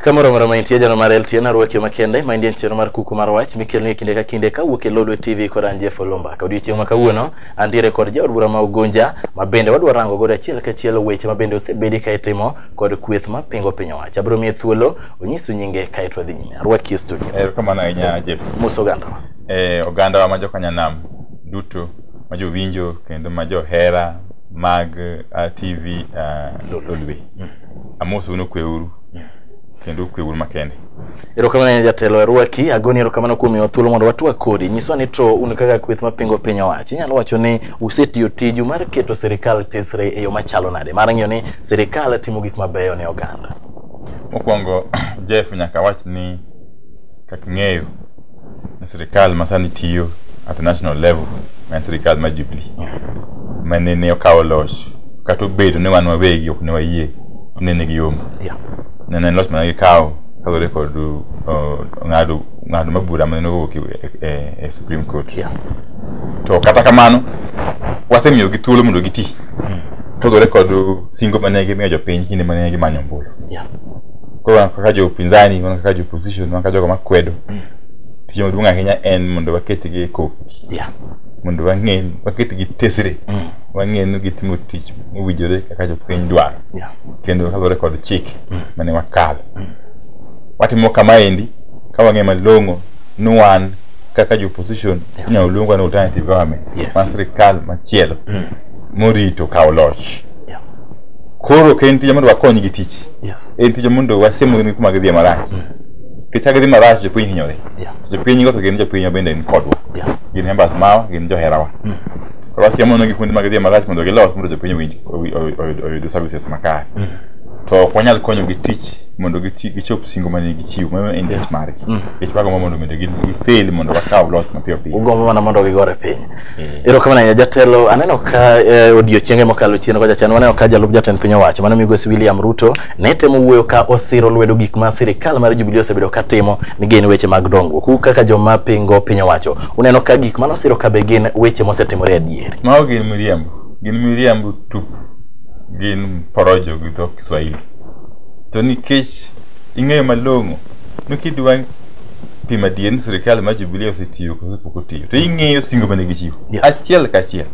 kamoro moro maintie jano mar LTN arwaki makende ma indien chenro mar kuku mar wach mikelni e kinde ka kinde ka wuok e Lodwe TV kod an Jeff Olomba ka odiechieng' ma kawuono antiere kod jaod bura ma Ugunja ma bende wadwa rango godo achiel kachiel weche ma bende osebedi ka itimo kod kweth ma pingo piny owacho. Abiro miye thuolo onyisu nyinge kae to wadhi nyime. Arwaki e studio. Erokamano ahinya Jeff. Mos ogandawa. E, ogandawa ma jokanyanam duto ma jowinjo kendo ma johera mag uh, TV uh, Lolwe. Mm. Amos uno kweuru. Yeah. kendo kwe un makende erokamano ne jatelo arwaki agoni erokamano kuom miwa thuolo mondo watwak kodi nyiswa ni to un kaka kweth mapingo piny owacho inyalo wacho ni usetiyo tiju mar keto sirikal tesre e yo machalo nade mar ng'iyo ni Sirikal timo gik mabeyo ne oganda. Mokwongo Jeff nyaka wach ni kaka ng'eyo ni sirikal masani tiyo at the national level ma en sirikal ma Jubilee ma nene okawo loch kata obedo ni wan wawegi ok ne wayie ne nigi yombo Yeah. nene en loch mana gikawo kaluwore kod uh, ng'ado ng'ado ma bura mane owuok e, e, e Supreme Court Yeah. to kata kamano wasemiyogi thuolo mondo giti Togore kod singo mane gimiyo jopiny kinde mane gimanyo ombulu. Yeah. Koro wan kaka jopinzani, wan kaka jopposition, wan kaka jogo makwedo. Tich maduong' ahinya en mondo waketgi e koki. Yeah. Mondo wang'e, waketgi tesre. Mm. Wang'e ni gitimo tich mowinjore kaka jopiny dwaro. Yeah. Kendo kaluwore kod chike mane wakalo. Watimo kamaendi ka wang'e malong'o ni wan kaka jo opposition inyalo luongwa ni alternative government Yes. ma sirikal machielo Mm. morito kawo loch Yeah. koro ok en tija mondo wakony gi tich Yes. en tija mondo wasiemgi kuma gidhiye marach kicha gidhi marach jopiny hinyore Yeah. jopiny go to gin jopiny bende ni kodwa Yeah. gin members mawa gin joherawa koro wasiemonegi kuonde ma gidhiye marach mondo gilos mondo jopiny owinj- owi- owi- owi- oyud services makare to ok wanyal konyogi tich mondo gichop singo mane gichiwo mano en tich margi tich mago mondo mondo gifeli mondo wakaw loch mapiyo piyo ugombo mana mondo gigore piny erokamano ahinya jatelo aneno ka eh, odiochienge mokalo chien kocha chien waneno ka jalup jatend piny owacho mano migosi William Ruto ne temo wuoyo ka osiro lwedo gik ma sirikal mar Jubilee osebedo ka timo ni gin weche mag dongruok u kaka joma pingo piny owacho uneno ka gik mano siro ka be gin weche mosetimore adier mago gin miriambo gin miriambo tupu gin porojo gi dho Kiswahili to nikech ing'eyo malong'o ni kidwa pimo adier ni sirkal mar Jubilee osetiyo kose pok otiyo to ing'eyo singo mane gichiwo Yes. achiel kachiel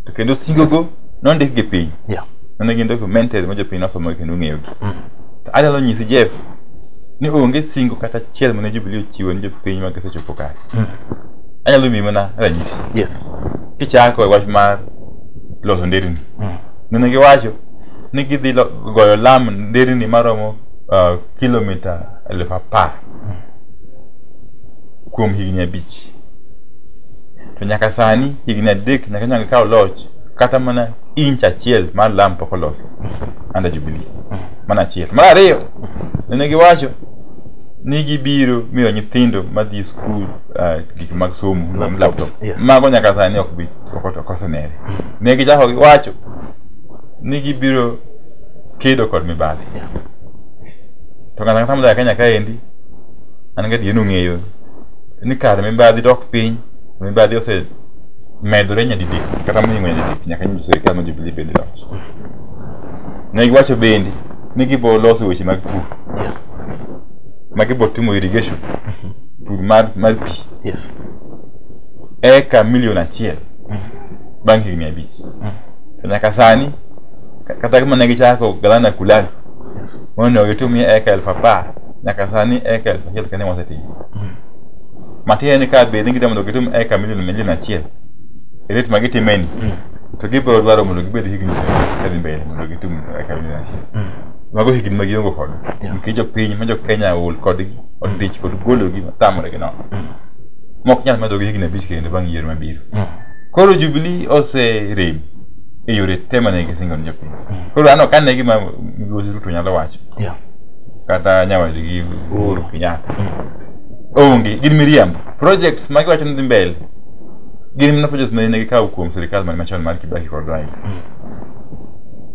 to kendo singogo nondik gi piny Yeah. mane gin documented ma jopiny nosomo kendo ong'eyogi to anyalo nyisi Jeff ni onge singo kata achiel mane Jubilee ochiwo ni jopiny ma gisechopo kare anyalo miyi mana ranyisi Yes. kichako e wach mar loso nderni nene giwacho ni gidhi lo- goyo lam nderni maromo uh, kilomita elfu apar kuom higni abich to nyaka sani higni adek nyaka nyaka kaw loch kata mana inch achiel mar lam pok oloso under jubilee mana achiel mar ariyo nene giwacho ni gibiro miyo nyithindo madhi skul uh, gik mag somo Laptops, laptop yes. mago nyaka sani ok bi ok osenere ne gichako giwacho ni gibiro kedo kod mibadhi to kata kata modak Kenya kaendi an ga dieno ng'eyo ni kar mibadhi dok piny mibadhi ose medore nyadidek kata mohingo nyadidek nyaka nyiso sirikal ma Jubilee bende loch ne giwacho bende ni gibo loso weche mag pur ma gibo timo irrigation pur mar mar pi yes eka milion achiel bang' higni abich to nyaka sani ka- kata gima ne gichako galana kulani Yes. mondo gitumie eka elfu apar nyaka sani eka elfu achiel kane wasetimo matiende ni ka bed ni gidwa mondo gitum eka milion milion achiel e ret ma gitimeni to gibiro dwaro mondo gibed higni kadhi mbele mondo gitum eka milion achiel mago higni ma giongo kod Yeah. nikech jopiny ma jokenya ol kodgi odich kod gologi tamore gi nono mok nyal medogi higni abich kendo bang' yiero mabiro Koro Jubilee oserem e yore te mane gisingo ne jopiny. Koro an ok ane gima Migosi Ruto nyalo wacho Yeah. kata nyawadgi Uhuru Kenyatta. Onge, gin miriambo. Projects ma giwacho ni dhi mbele gin mana projects ma ne gikawo kuom sirikal man machon mar Kibaki kod Raila.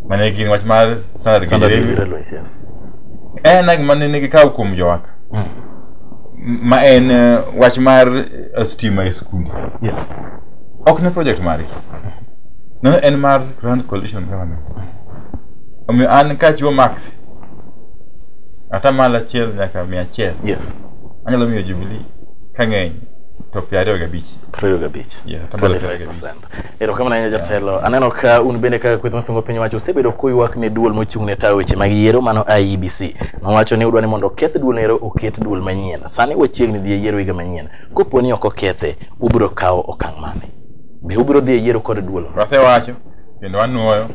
Mane gin wach mar standard Standard gauge railway. Railways, yes. En ag mane ne gikawo kuom jowaka. Mm. Ma en eh, wach mar eh, stima e skunde. Yes. ok ne project mari no en mar grand coalition government omiyo an kachiwo max ata malo achiel nyaka mia achiel yes anyalo miyo jubilee kang'eny to piero ariyo gabich ariyo gabich Yeah, hata mbele ya gabich. 25%. erokamano ahinya jatelo aneno ka un bende kaka kweth mapingo piny owacho usebedo kuywak ne duol mochung' ne tayo weche mag yiero mano iebc nowacho ni udwa ni mondo oketh duolno ero oket duol manyien sani wachiegni dhi e yiero higa manyien Kopo ni ok okethe, ubiro kawo okang' mane? Be ubiro dhi e yiero kod duolo? Wasewacho kendo wanwoyo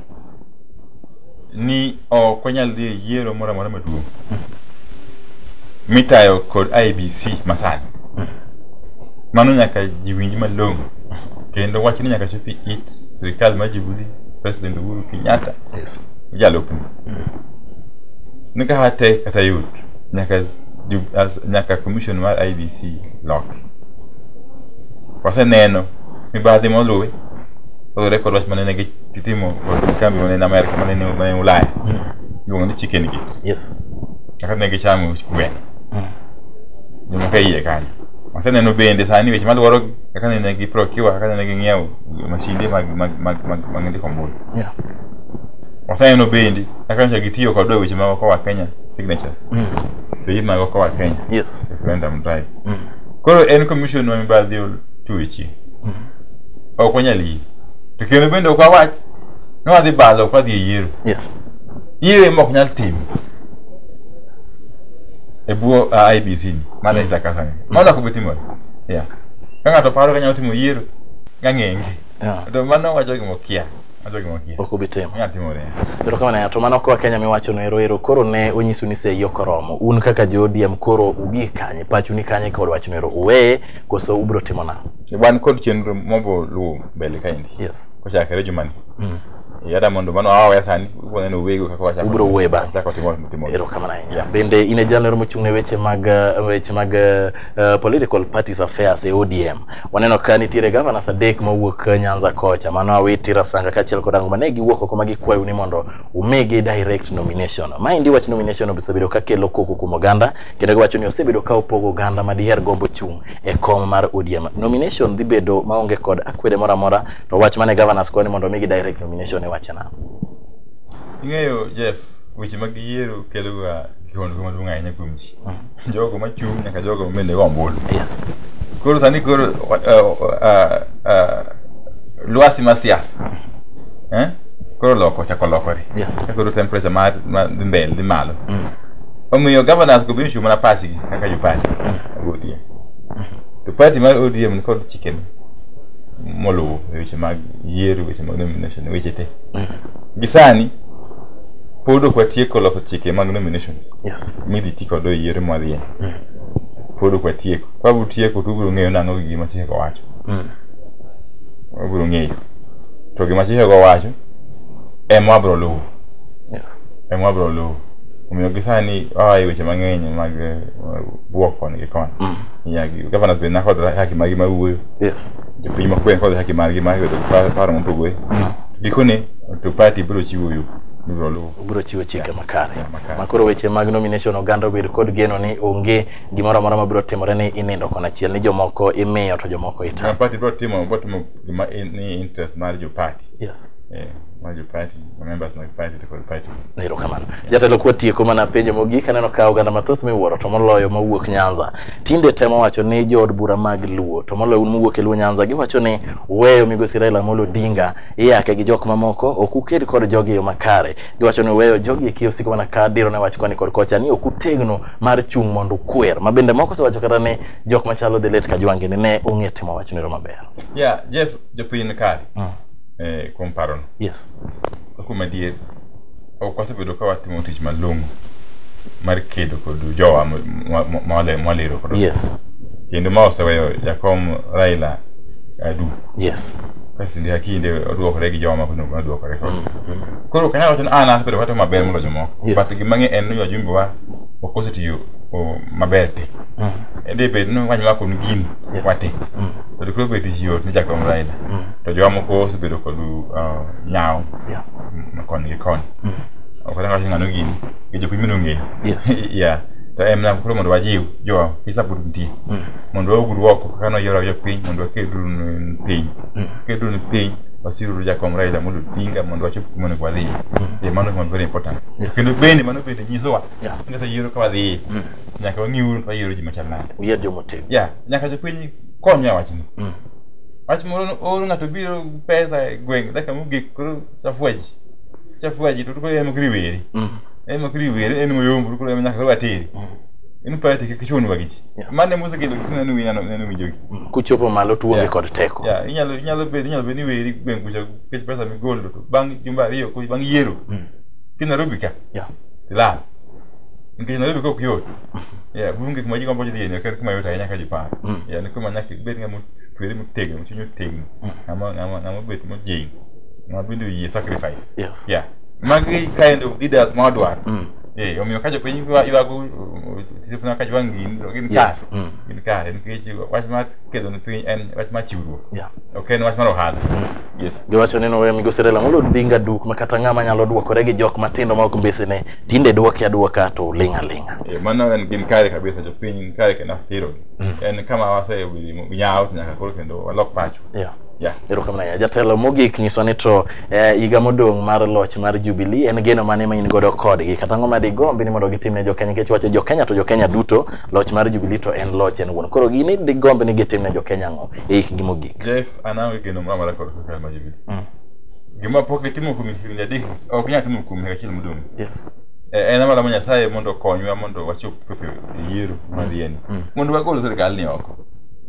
ni ok wanyal dhi e yiero moro amora maduong' mitayo kod IBC masani. Mano nyaka ji winj malong'o kendo wach ni nyaka chop e it sirikal mar Jubilee, President Uhuru Kenyatta, Yes. jalupne. Ni ka hate kata yot nyaka jub as ñàkk a commission mar IBC lock parce que neno mi ba dimo lui lo record was manene gi titimo kambi manene America manene manene Ulaya yo ni chicken gi yes kaka ne gi chamu gwen juma kai ye kan masa neno bende sani weche madwaro kaka nene gi procure kaka nene gi ng'iewo masinde mag mag mag mag mag ndiko mbui yeah masa neno bende kaka nche gitiyo kod weche mag kowa Kenya signatures Mm. so yie mago koa Kenya Yes. referendum drive Mm. koro en commission ma mibadhi otuechi Mm. ok wanyal yie to kendo bende ok wawach ni wadhi badho ok wadhi e yiero Yes. yiero ema ok nyal timo e bwo uh, IBC ni mano Isaac Asani mano ok bitimore yeah ka ng'ato paro ka nyalo timo yiero gang'enge Yeah. to mano wacho gima okia ok obi timo erokamano ya to mano koa kenya miwacho no eroero koro ne onyisu ni sei ok oromo un kaka jo odm koro ubi kanye pachu ni kanye kod wachno ero uweye koso ubiro timo na wan kod chenro mobo luwo mbele kaendi yes. kochakre jumani mm. yada mondo mano awawe sani waneno wego kaka wachako ubro wuoye bang' chako timo timo erokamano ahinya yeah. bende in e jalno mochung' ne weche mag weche mag uh, political parties affairs e ODM Waneno ka nitiere governors adek mowuok Nyanza kocha, mano Awiti, Rasanga kaachiel kod Angoma. Ne giwuok oko ma gikwayo ni mondo umigi direct nomination. Maendi wach nomination osebedo ka kelo koko kuom oganda kendo giwacho ni osebedo ka opogo oganda ma diher gombo chung' e kom mar ODM. Nomination dhi bedo maonge kod akwede moro amora, to wach mane governors kwayo ni mondo omigi direct nomination e wache nang'o? Ing'eyo Jeff, weche mag yiero keloga kiwango maduong' ahinya kuom ji. jogo machung' nyaka jogo mende go ombulu yes koro sani koro uh, uh, uh, lwasi ma siasa eh? koro loko chako lokore Yeah. Ka koro temperature mar ma dhi mbele dhi malo omiyo governors go biro chung' mana pachgi kaka jo party mag ODM to party mar ODM ni kod chicken moluwo e weche mag yiero weche mag nomination weche te gi sani pod ok watieko loso chike mag nomination Yes. midhi ti kode e yiero mwadhiye pod ok watieko ka utieko to ubiro ng'eyo nang'o gi gima chikego wacho Mm. wabiro ng'eyo to gima chikego wacho ema wabiro luwo Yes. ema wabiro luwo omiyo gi sani waa e weche mang'eny mag eh, bwok koni gi koni Nyagi- governors be nakod haki margi mar wuoyo Yes. jopiny makuwe kod haki margi mar yudo pa- paro mopogore gikone to party biro chiwo yo mibiro luwo obiro chiwo chike makare ma koro weche mag nomination oganda obed kod geno ni onge gimoro amora ma biro timore ni inindo kon achiel ni jomoko imiyo to jomoko ita Joma party bro timo bro timo gima in- ni interest mar jo party yes eh mar jo party ma members mag party to kod party erokamano jatelo kuwa tieko mana penjo mogik aneno ka oganda mathoth miwuoro to moloyo mawuok nyanza tinde temo wacho ni jood bura mag luo to moloyo un mowuok e luo nyanza giwacho ni weyo migosi raila amolo odinga iyake gi jok mamoko ok uked kod jogi e yo makare giwacho ni weyo jogi e kiyo siko mana ka diro ne wach kwani kod kocha ni ok utegno mar chung' mondo ukwer ma bende moko osewacho kata ni jok machalo dhi let ka jwange ni ne ong'e timo wach nero maber ya jeff jopiny ni kare eh, kuom parono yes kuom adier ok wasebedo ka watimo tich malong'o mar kedo kod jowa mo- mo- mo- mole- moliro kod yes kendo ma oseweyo jakom Raila adu yes ka kinde ka kinde oduokore gi jowa mako nongo oduokore kod koro kanyalo wacho ni an asebedo katimo maber moloyo jomoko Yes. but gima ng'e en ni wajumbe wa ok osetiyo o, maber te ende bed ni wany wako ni gini Yes. wate to koro bed yot ni jakom Raila to jowa moko osebedo kod uh, nyawo yeah koni gi koni mm. ok anyal wacho ng'ano gini gi jopiny mino ng'eyo ya to en mana koro mondo wajiw jowa pisa pod nitie mm. mondo waugru oko kaka noyiero awiyo piny mondo wakedru piny mm. kedru ni piny wasiruru jakom Raila Amolo Odinga mondo wachop kuma onego wadhiye e mano is very important kendo bende mano bende nyisowa ni kata yiero ka wadhiye nyaka wang'iuru to wayiero ji machal nade uyier jomotegno nyaka jopiny konywa wachni wach moro ooro ng'ato biro pesa e gweng' dakika mogik koro chafua ji chafua ji to koro en mokri weri mm. en mokri weri en moyombo koro en nyaka koro ateri mm. in pati kik chunwa gi ji mane mosekelo kik neno wi nano neno winjo gi mm. kuchopo malo tuonge kod teko ya inyalo inyalo bedo inyalo bedo ni weri gweng' kucha kech pesa migolo to bang' jumba ariyo bang' yiero ki Nairobi ka ya tilal nikech Nairobi kok yot Yeah, kuom gik ma ji gombo dhi nyaka kuma yot ahinya ka ji paro. Mm. Yeah, ni kuma nyaka ibed ng'ama otwere motegno, chuny otegno, Mm. ng'ama ng'ama ng'ama obet mojing, ng'ama bende oyie sacrifice. Yes. Yeah. Magi kind of leaders ma wadwaro. Mm. Eh, omiyo ka jopiny ywa- ywago uh, tijepna ka jwang' gin to gin kare. Yes. Mm. Gin kare nikech wach mar kedo ne piny en wach mar chiwruok. Yeah. Ok en wach mar ohala. Yes. Giwacho ni nowe migosi Raila Amolo Odinga duk ma kata ng'ama nyalo dwokore gi jok matindo ma ok mbesene tinde dwoki adwoka to uling' aling'a Eh, mano en gin kare kabisa jopiny ni kare kendo asiro en kama wasewimo nyawo to nyaka koro kendo walok pacho yeah. yeah. erokamano ahinya jatelo mogik nyiswa ni to eh, higa modong' mar loch mar jubilee en geno mane ma in godo kodgi kata ang'o ma digombi ni mondo gitimne jokenya nikech wacho jokenya to jokenya duto loch mar jubilee to en loch en wuon koro gini digombi ni gitimne jokenya ang'o e hikgi mogik jeff an aonge geno moro amora kod sirkal ma jubilee gima pok itimo kuom higni adek ok inyal timo kuom higa achiel modong' yes Eh, en amara ma nyasaye mondo okonywa mondo wachop chopo e yiero madhiyeni Mm. mondo wagol sirikalni oko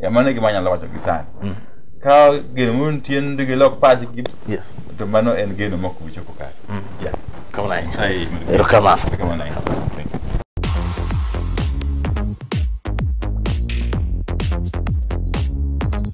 Eh, mano e gima anyalo wacho gi sani Mm. ka geno moro nitie ni gilok pachgi yes to mano en geno ma ok bichopo kare Mm. Yeah. kamano ahinya Nyasaye mondo- erokamano Erokamano ahinya. Thank you.